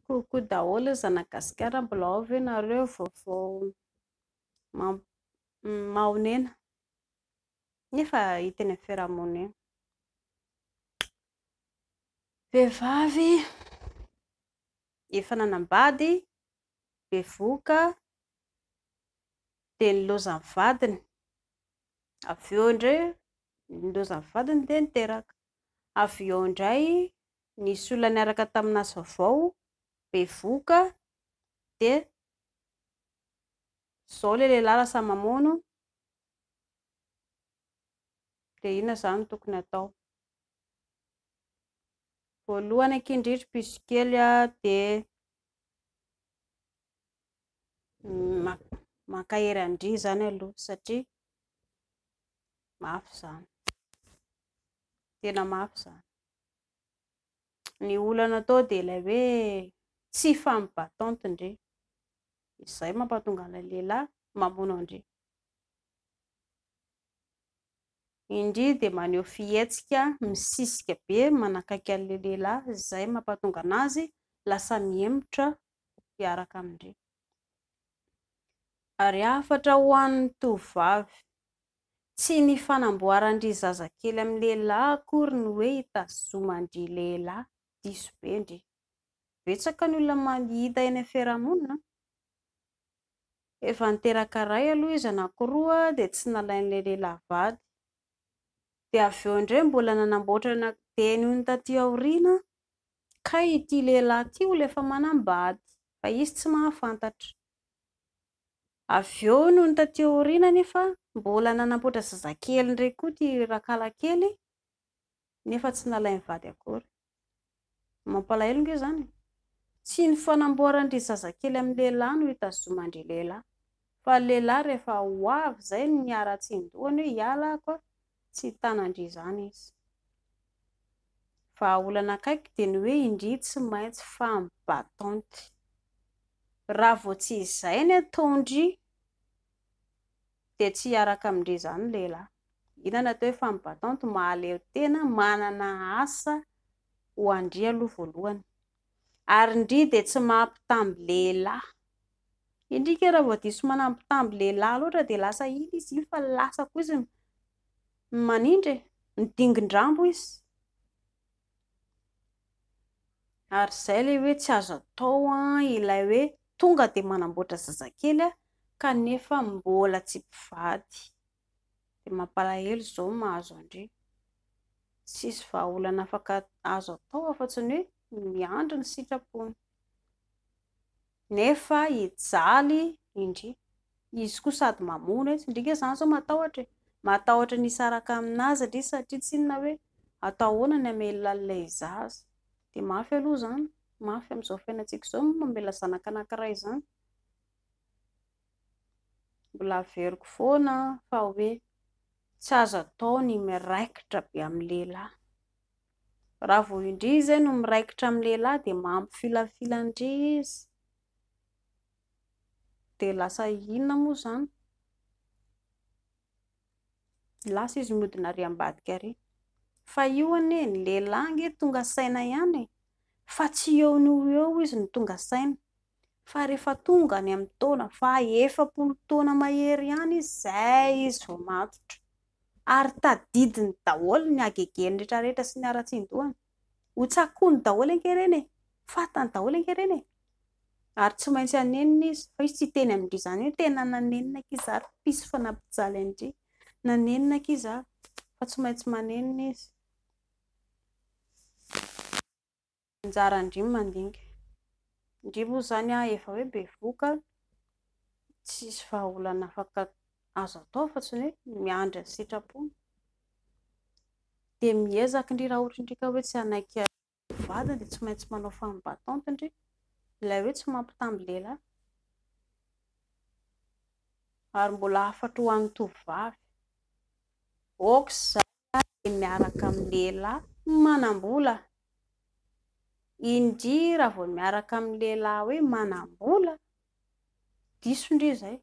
Coucou daholo ry zanagasikara mbola ao ve nareo vao vao mahonena nefa hita eny amin'ny fiarahamonina vehivavy efa nanambady bevoka dia ny lozan'ny vadiny avy eo indray ny lozan'ny vadiny dia niteraka avy eo indray nisy olona niaraka tamin'azy vaovao bevoka dia zao le lehilahy lasa mamono dia inona izany tokony atao voalohany akia indrindra piso kely dia mankahery an-dry izany aloha satria mafy izany Tena mafy izany. Ny olana atao dia ilay hoe tsy femme battante ndry. Izay mampatonga an'ilay lehilahy mamono an-dry. Indry dia maneho fihetsika misisika be manakaiky an'ilay lehilahy, izay mampatonga an'azy lasa mihemotra hiaraka amin-dry. Ary hafatra ho an'ny tovovavy Tsy ny fanamboaran-dry zazakely amin'ny lehilahy akory no hoe itazoman-dry lehilahy, diso be ndry. Betsaka ny olona mahita eny amin'ny fiarahamonina an! Efa niteraka iray aloha izy anankiroa dia tsy nalain'ilay lehilahy vady. Dia avy eo indray mbola nanamboatra ny ankidiany hono taty aoriana kay ity lehilahy ity olona efa manam-bady fa izy tsy mahafantatra. Avy eo nony taty aoriana anefa mbola nanamboatra zazakely indray koa ity rakalakely nefa tsy nalain'ny vady akory. Mampalahelo nge izany e! Tsy ny fanamboaran-dry zazakely amin'ny lehilahy no itazoman-dry lehilahy fa ny lehilahy rehefa ho avy izay no miharatsian-dohany hoe hiala aho koa tsy hitana-ndry izany izy. Vahaolana akaiky dia ny hoe indry tsy maintsy femme battante. Raha vao tsy izay ny ataon-dry dia tsy hiaraka amin-dry izany ny lehilahy. Inona no atao hoe femme battante? Mahaleo tena, manana asa ho an-dry aloha voalohany. Ary ndry dia tsy maha mpitamby lehilahy. Endrika raha vao diso manana mpitamby lehilahy loatra dia lasa iny izy iny fa lasa koa izy manindry e, midingin-drambo izy. Ary izay ilay hoe tsy azo atao ilay hoe tonga dia manamboatra zazakely kanefa mbola tsy mpivady. dia mampalahelo izao ny mahazo an-dry. Tsisy vahaolana afaka azo atao afa-tsy ny hoe miandry ny sitrapony. Nefa hijaly indry. Izy koa sady mamono etsy, ndry nge izany izao matahotra e! Matahotra ny hisaraka amin'azy ndry satria tsy inona hoe atao ahoana ny hamelona an'ilay zaza. Dia mafy aloha izany, mafy amin'izao fiainantsika izao ny mamela zanaka anankiray izany. Mbola averiko foana fa hoe tsy azo atao ny miraikitra be amin'ny lehilahy. Raha vao indry izay no miraikitra amin'ny lehilahy dia mampifilafilan-dry izy. Dia lasa inona moa izany? Lasa izy mody nary ambadika ary. Fa io anie, ny lehilahy ange tonga saina ihany e! Fa tsy eo noho eo izy no tonga saina. fa rehefa tonga any amin'ny taona faha efapolo taona mahery ihany izy izay izy vao matotra ary tadidiny daholo ny hagegeny rehetra rehetra sy ny haratsin-dohany ho tsakony daholo ange ireny e fatany daholo ange ireny e ary tsy maintsy hanenina izy fa izy tsy teny amin-dry izany hoe tena nanenina aky izy ary mpisy fa nampijaly an-dry nanenina aky izy ary fa tsy maintsy manenina izy Anjara an-dry mandinga. Ndry moa izany efa hoe bevoka, tsisy vahaolana afaka azo atao afa tsy ny hoe miandry ny sitrapony. Dia miezaka ndry raha ohatra ndry ka hoe tsy hanaiky vadiny dia tsy maintsy manao femme battante ndry. Ilay hoe tsy mampitamby lehilahy. Ary mbola hafatra ho an'ny tovovavy. Aoka izany. Raha izaho dia miaraka amin'ny lehilahy manam-bola, indria raha vao miaraka amin'ny lehilahy hoe manam-bola, diso ndry izay.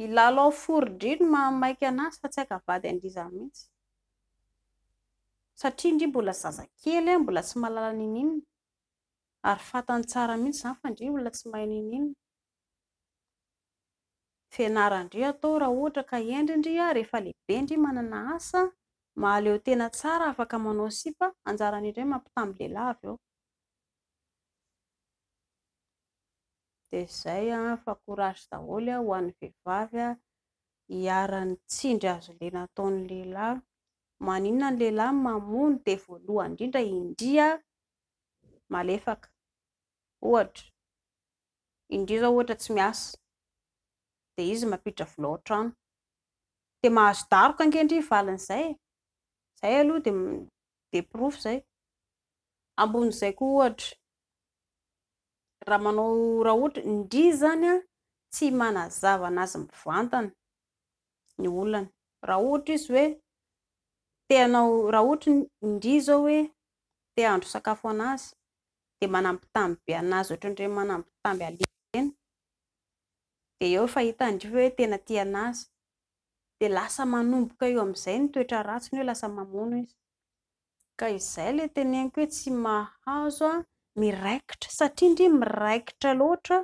I Lalao fory ndry no maha maika an'azy fa tsy haika vady an-drizany mihitsy. Satria ndry mbola zazakely, mbola tsy mahalala n'inon'inona, ary fantany tsara mihitsy izany fa ndry olona tsy mahay n'inon'inona. Fianaran-dry atao raha ohatra ka hendry ndry a rehefa lehibe ndry manana asa mahaleo tena tsara afaka manao sipa anjarany indray mampitamby lehilahy avy eo dia izay a fa courage daholo a ho an'ny vehivavy a hiharan'ny tsindry azo lena ataon'ny lehilahy maninona ny lehilahy mamono dia voalohany indrindra indry a malefaka ohatra Indrio zao ohatra tsy miasa dia izy mampiditra vola ao an-trano. Dia mahazo daroka ange ndry ny valin'izay e! Izay aloha dia dia porofo izay. Ambonin'izay koa ohatra, raha manao raha ohatra, ndry izany an, tsy manazava an'azy mivantana ny olany. Raha ohatra izy hoe te hanao, raha ohatra ndry izao hoe te hahandro sakafo ho an'azy, dia manambitamby be an'azy ohatran'ireny manambitamby alika ireny, dia eo efa hitan'dry io hoe tena tia an'azy, dia lasa manomboka eo amin'izay ny toetra ratsiny hoe lasa mamono izy, ka izay ilay teneniko hoe tsy mahazo an, miraikitra, satria ndry miraikitra loatra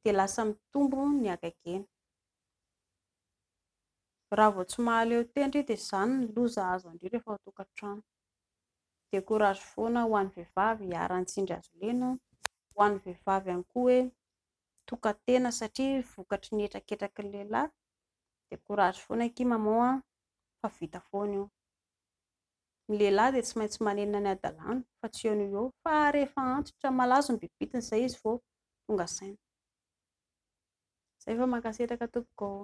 dia lasa mitombo ny hagagena, raha vao tsy mahaleo tena ndry dia izany ny loza azo an-dry rehefa ao an-tokantrano. dia courage foana ho an'ny vehivavy iharan'ny tsindry azo lena, ho an'ny vehivavy ihany koa hoe tokan-tena satria vokatry ny hetraketraky ny lehilahy, dia courage foana akia maman a, fa vita foana io, ny lehilahy dia tsy maintsy manenina ny hadalany fa tsy eo noho eo, fa rehefa antitra malazo ny bibitiny izay izy vao tonga saina, izay fa mankasitraka tompoko ô.